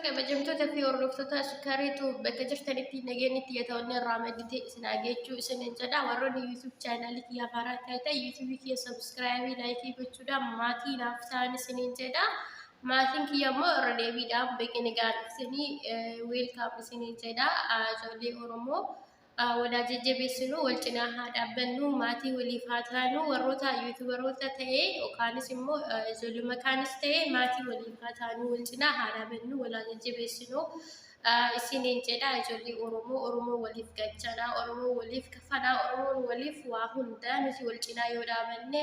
Kabajamtoota fi hordoftoota shikariitu bakka jirtanitti nageenyi xiyyeetoonni irraa madditee isin hageechuu isiniin jedha. Warroonni YouTube chaanaalii kiyyaa haaraa taate YouTube kiyya sabiskiraaybii laayikii gochuudhaan maatii naaf ta'an isiniin jedha. Maatiin kiyya immoo irra deebiidhaan beekee nagaan isinii weelkaam isinii jedha. Ijoollee Oromoo walaa jajjabeessinu wal cinaa haa dhaabbannu maatii waliif haa taanu warroota yuutubaroota ta'e yookaanis immoo ijoollee makaanis ta'e maatii waliif haa taanu wal cinaa haa dhaabbannu walaa jajjabeessinu. isiniin jedha ijoollee Oromoo Oromoo waliif gachanaa Oromoo waliif kafanaa Oromoon waliif waa hundaa nuti wal cinaa yoo dhaabanne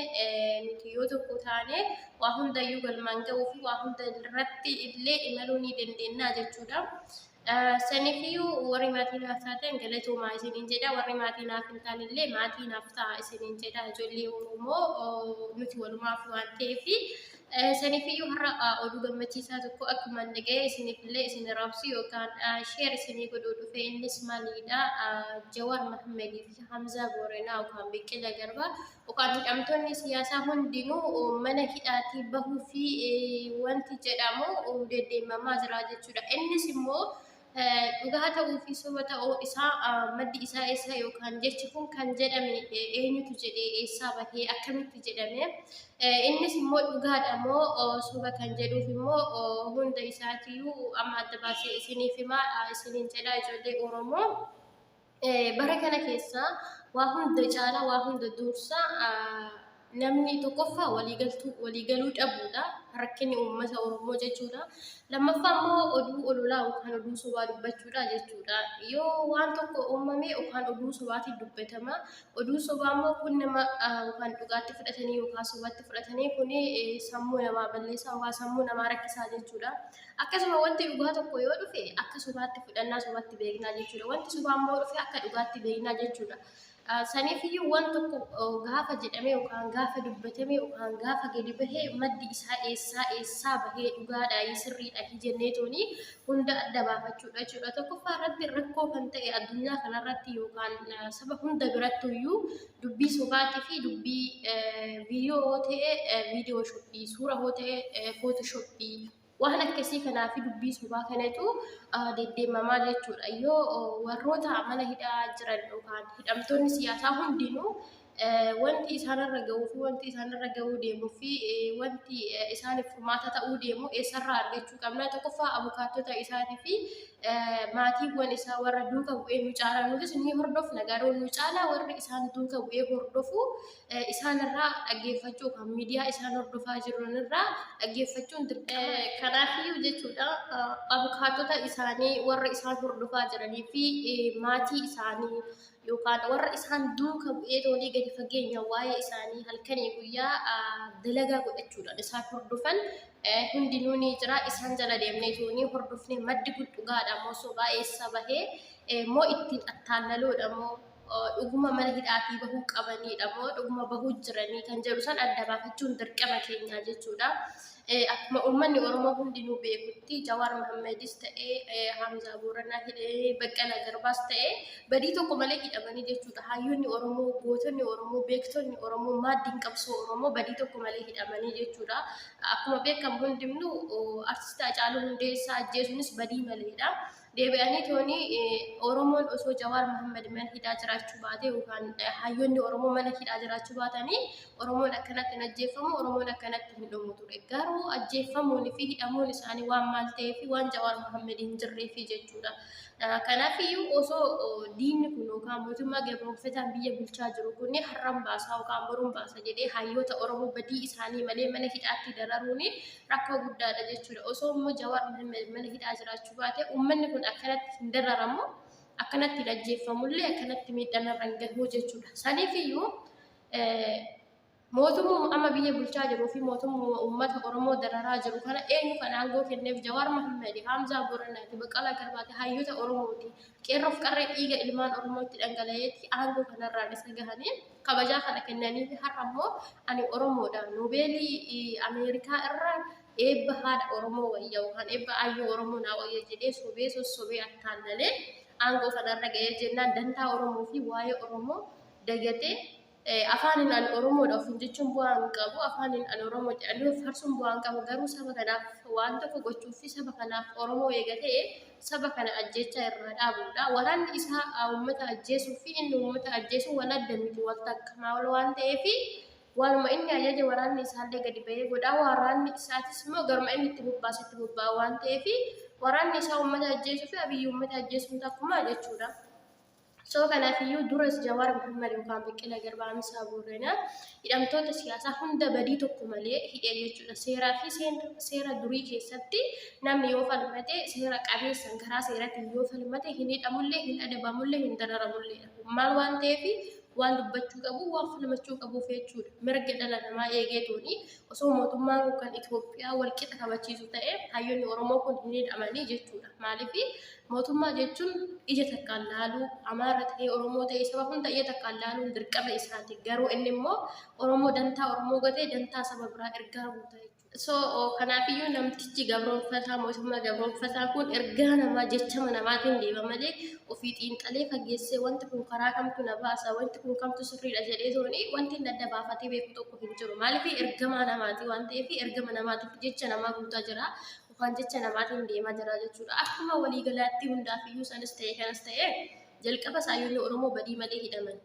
nuti yoo tokko taane waa hundayyuu galmaan ga'uu fi waa hunda irratti illee imaluu ni dandeenya jechuudha. Sanifiyyuu warri maatii naaf taatan galatoomaa isiniin jedha warri maatii naaf hin taane illee maatii naaf ta'a isiniin jedha ijoollee Oromoo nuti walumaaf waan ta'eef Sanifiyyuu har'a oduu gammachiisaa tokko akkuman dhaga'ee isinifillee isin raabsu yookaan sheer isinii godhuu dhufe innis maalidha Jawaar Mahammed fi Hamzaa Booranaa yookaan Biqila Garba yookaan hidhamtoonni siyaasaa hundinuu mana hidhaatii bahuu fi wanti jedhamu deddeemamaa jira jechuudha. Innis immoo Dhugaa ta'uu fi soba ta'uu isaa maddi isaa eessa yookaan jechi kun kan jedhame eenyutu jedhee eessaa bahee akkamitti jedhame innis immoo dhugaadha moo soba kan jedhuuf immoo hunda isaatiyyuu amma adda baasee isiniif himaa isiniin jedhaa ijoollee Oromoo. Bara kana keessa waa hunda caalaa waa hunda dursa namni tokkoffaa waliigaltuu waliigaluu dhabuudha rakkinni uummata Oromoo jechuudha. Lammaffaa immoo oduu ololaa yookaan oduu sobaa dubbachuudha jechuudha. Yoo waan tokko uumame yookaan oduu sobaatiin dubbatama. Oduu sobaa immoo kun nama yookaan dhugaatti fudhatanii yookaan sobaatti fudhatanii kun sammuu namaa balleessaa yookaan sammuu namaa rakkisaa jechuudha. Akkasuma wanti dhugaa tokko yoo dhufe akka sobaatti fudhannaa sobatti beeknaa jechuudha. Wanti sobaa immoo dhufe akka dhugaatti beeknaa jechuudha. Saniif iyyuu waan tokko gaafa jedhamee yookaan gaafa dubbatamee yookaan gaafa gadi bahee maddi isaa eessaa eessaa bahee dhugaadhaa sirriidha jennee toonii hunda adda baafachuudha jechuudha. Tokkoffaa irratti rakkoo kan ta'e addunyaa kanarratti yookaan saba hunda birattu iyyuu dubbii sobaatii fi dubbii viidiyoo yoo ta'e viidiyoo shoppii, suura yoo ta'e footoo shoppii waan akkasii kanaa fi dubbii sobaa kanatu deddeemamaa jechuudha. Yoo warroota mana hidhaa jiran yookaan hidhamtoonni siyaasaa hundinuu wanti isaanirra ga'uu fi wanti isaanirra ga'uu deemuu fi wanti isaaniif furmaata ta'uu deemu eessarraa argachuu qabna tokkoffaa abukaattota isaatii fi maatiiwwan isaa warra duuka bu'ee nu caalaa nutis ni hordofna garuu nu caalaa warri isaan duuka bu'ee hordofu isaanirraa dhaggeeffachuu kan miidiyaa isaan hordofaa jiranirraa dhaggeeffachuun dirqama. Kanaafiyyuu jechuudha abukaatota isaanii warra isaan hordofaa jiranii fi maatii isaanii yookaan warra isaan duuka bu'ee toonii gadi fageenya waa'ee isaanii halkanii guyyaa dalagaa godhachuudhaan isaan hordofan hundinuu ni jira isaan jala deemnee toonii hordofne maddi kun dhugaadha moo sobaa eessa bahee moo ittiin attaallaloodha moo dhuguma mana hidhaatii bahuu qabaniidha moo dhuguma bahuu jiranii kan jedhu san adda baafachuun dirqama keenyaa jechuudha. Akkuma uummanni Oromoo hundinuu beekutti Jawaar Mahammadis ta'ee Hamzaa Booranaa hidhee Baqqalaa Garbaas ta'ee badii tokko malee hidhamanii jechuudha. Hayyoonni Oromoo, gootonni Oromoo, beektonni Oromoo, maaddiin qabsoo Oromoo badii tokko malee hidhamanii jechuudha. Akkuma beekamu hundinuu artist Hacaaluu Hundeessaa ajjeesuunis badii maleedha. Deebi'anii tooni Oromoon osoo Jawaar Mohammed mana hidhaa jiraachuu baatee yookaan hayyoonni Oromoo mana hidhaa jiraachuu baatanii Oromoon akkanatti hin ajjeeffamu, Oromoon akkanatti hin dhumu ture. Garuu ajjeeffamuun fi hidhamuun isaanii waan maal ta'ee fi waan Jawaar Mohammed hin jirree fi jechuudha. Kanaaf iyyuu osoo diinni kun yookaan mootummaa gabroomfataan biyya bulchaa jiru kun har'an baasaa yookaan boruun baasa jedhee hayyoota Oromoo badii isaanii malee mana hidhaatti dararuun rakkoo guddaadha jechuudha. Osoo immoo Jawaar Mohammed mana hidhaa jiraachuu jiraachuu baate uummanni kun akkanatti hin dararamu akkanatti hin ajjeeffamullee akkanatti miidhaan irra hin gahu jechuudha. Saniif iyyuu mootummaa amma biyya bulchaa jiruu fi mootummaa uummata Oromoo dararaa jiru kana eenyu kan aangoo kenneef Jawaar Mahammed, Haamzaa Booranaati, Baqqalaa Garbaati, hayyoota Oromooti. Qeerroof qarree dhiiga ilmaan Oromootti dhangala'eetti aangoo kanarraan isa gahanii kabajaa kana kennanii fi har'a immoo ani Oromoodha noobeelii Ameerikaa irraa Eebba haadha Oromoo wayya yookaan eebba aayyoo Oromoo naa wayya jedhee sobee sossobee attaallalee aangoo kanarra ga'ee jennaan dantaa Oromoo fi waa'ee Oromoo dagatee afaaniin ani Oromoodha ofiin jechuun bu'aa hin qabu afaaniin ani Oromoo jedhanii of farsuun bu'aa hin qabu garuu saba kanaaf waan tokko gochuuf fi saba kanaaf Oromoo eega ta'e saba kana ajjeechaa irraa dhaabuudha waraanni isaa uummata ajjeesuu fi inni uummata ajjeesuu wal adda miti wal takka maal waan ta'eef Waanuma inni ajaje waraanni isaallee gadi ba'ee godha. Waraanni isaatis immoo garuma inni itti bobbaasetti bobba'a waan ta'eef waraanni isaa uummata ajjeesuu fi Abiyyi uummata ajjeesuun takkumaa jechuudha. Soo kanaaf iyyuu duras Jawaar Muhammad yookaan Baqqalaa Garbaa Amsaa Boorana hidhamtoota siyaasaa hunda badii tokko malee hidhee jechuudha. Seeraa fi seera durii keessatti namni yoo falmate seera qabeessan karaa seeratiin yoo falmate hin hidhamullee hin adabamullee hin dararamullee maal waan ta'eef waan dubbachuu qabu waan falmachuu qabu jechuudha. Mirga dhala namaa eegeetuuni osoo mootummaan kun kan Itoophiyaa wal qixa kabachiisu ta'e hayyoonni Oromoo kun hin hidhamanii jechuudha. Maaliif mootummaa jechuun ija takkaan laaluu Amaara ta'ee Oromoo ta'ee saba hunda ija takkaan laaluun dirqama isaati. Garuu inni immoo Oromoo dantaa Oromoo gatee dantaa saba biraa ergaa guutaa jechuudha. So kanaafiyyuu namtichi gabroonfataa mootummaa gabroonfataa kun ergaa namaa jechama namaatiin deema malee ofii xiinxalee fageessee wanti kun karaa kamtu na baasa wanti kun kamtu sirriidha jedhee tooni wanti inni adda baafatee beeku tokko hin jiru maaliif ergamaa namaati waan ta'eef ergama namaatiif jecha namaa guutaa jira yookaan jecha namaatiin deemaa jira jechuudha akkuma waliigalaatti hundaafiyyuu sanis ta'e kanas ta'e jalqaba saayyoonni oromoo badii malee hidhaman.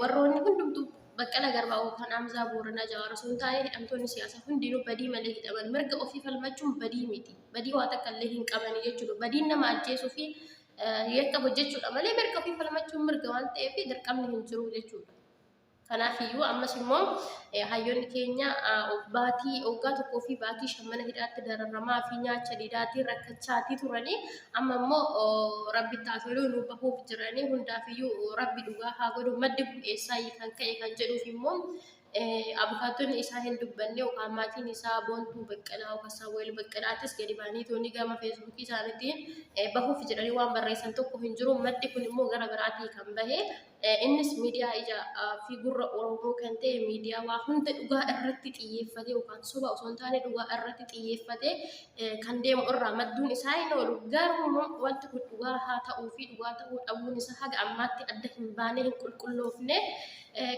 Warroonni hundumtuu baqqala garbaa yookaan Hamzaa Booranaa Jawaar osoo hin taane hidhamtoonni siyaasaa hundinuu badii malee hidhaman. Mirga ofii falmachuun badii miti. Badii waa takka illee hin qabani jechuudha. Badiin nama ajjeesuu fi yakka hojjechuudha malee mirga ofii falmachuun mirga waan ta'eef dirqamni hin jiru jechuudha. Kanaaf iyyuu ammas immoo hayyoonni keenya baatii waggaa tokkoo fi baatii shan mana hidhaatti dararamaa fi nyaacha didaatii rakkachaatii turanii Amma immoo rabbitti haa toluu nu bahuuf jiranii hundaafiyyuu rabbi dhugaa haa godhu maddi kun eessaayi kan ka'e kan jedhuuf immoo abukaattonni isaa hin dubbanne yookaan maatiin isaa boontuu baqqalaa yookaan saawweel baqqalaattis gadi ba'anii toonni gama feesbuukii isaaniitiin bahuuf jedhanii waan barreessan tokko hin jiru maddi kun immoo gara biraatii kan bahe Innis miidiyaa ijaa fi gurra Oromoo kan ta'e miidiyaa waa hunda dhugaa irratti xiyyeeffatee yookaan soba osoo hin taane dhugaa irratti xiyyeeffatee kan deemu irraa madduun isaa hin oolu. Garuu immoo wanti kun dhugaa haa ta'uu fi dhugaa ta'uu dhabuun isaa haga ammaatti adda hin baanee hin qulqulloofne.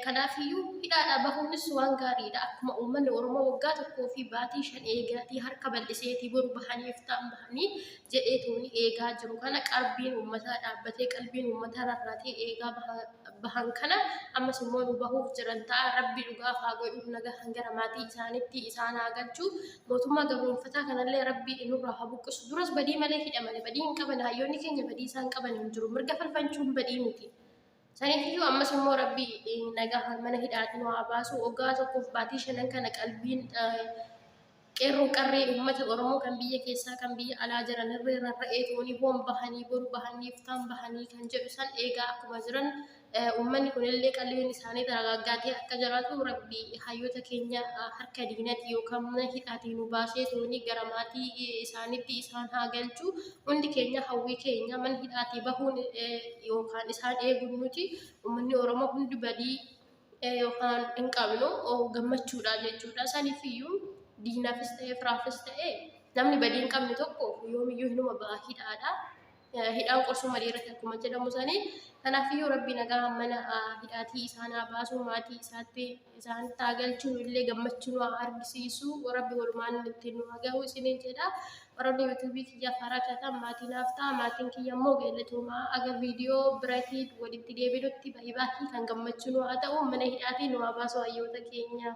Kanaafiyyuu hidhaadhaa bahuunis waan gaariidha. Akkuma uummanni Oromoo waggaa tokkoo fi baatii shan eegaatii harka bal'iseetii boru bahaniif ta'an bahanii jedhee tuuni eegaa jiru kana qarbiin uummataa dhaabbatee qalbiin uummataa rarraatee eegaa bahan kana ammas immoo nu bahuuf jiran ta'a rabbi dhugaa haa godhuuf nagaa hangara maatii isaanitti isaan haa galchuu mootummaa gabroonfataa kanallee rabbi nurraa haa buqqisu duras badii malee hidhamane badii hin qaban hayyoonni keenya badii isaan qaban hin jiru mirga falfanchuun badii miti Saniifiyyuu ammas immoo rabbi nagaa mana hidhaatiin waa baasu waggaa tokkoof baatii shanan kana qalbiin qeerroo qarree uummata Oromoo kan biyya keessaa kan biyya alaa jiran irree rarra'ee toonii hoon bahanii boru bahanii iftaan bahanii kan jedhu san eegaa akkuma jiran uummanni kunillee qalbiin isaanii dagaaggaatee akka jiraatu rabbi hayyoota keenya harka diinati yookaan mana hidhaatiin nu baasee toonii gara maatii isaanitti isaan haa galchu Hundi keenya hawwii keenya mana hidhaatii bahuun yookaan isaan eeguun nuti uummanni Oromoo hundi badii yookaan hin qabnu gammachuudha jechuudha. Saniif iyyuu diinaafis ta'ee firaafis ta'ee namni badii hin qabne tokko yoomiyyuu hinuma ba'a hidhaadha. Hidhaan qorsuu malee irratti akkuma jedhamu sanii kanaaf iyyuu rabbi nagaa mana hidhaatii isaan haa baasuu maatii isaatti isaan haa galchuu illee gammachuu nu haa argisiisu rabbi walumaan ittiin nu haa gahu isiniin jedha. Warroonni YouTube kiyyaaf haaraa taataan maatii naaf ta'a. Maatiin kiyya immoo galatooma. Aga viidiyoo biratii walitti deebinutti baay'ee kan gammachuu nu haa ta'u. Mana hidhaatii nu haa baasu hayyoota keenya.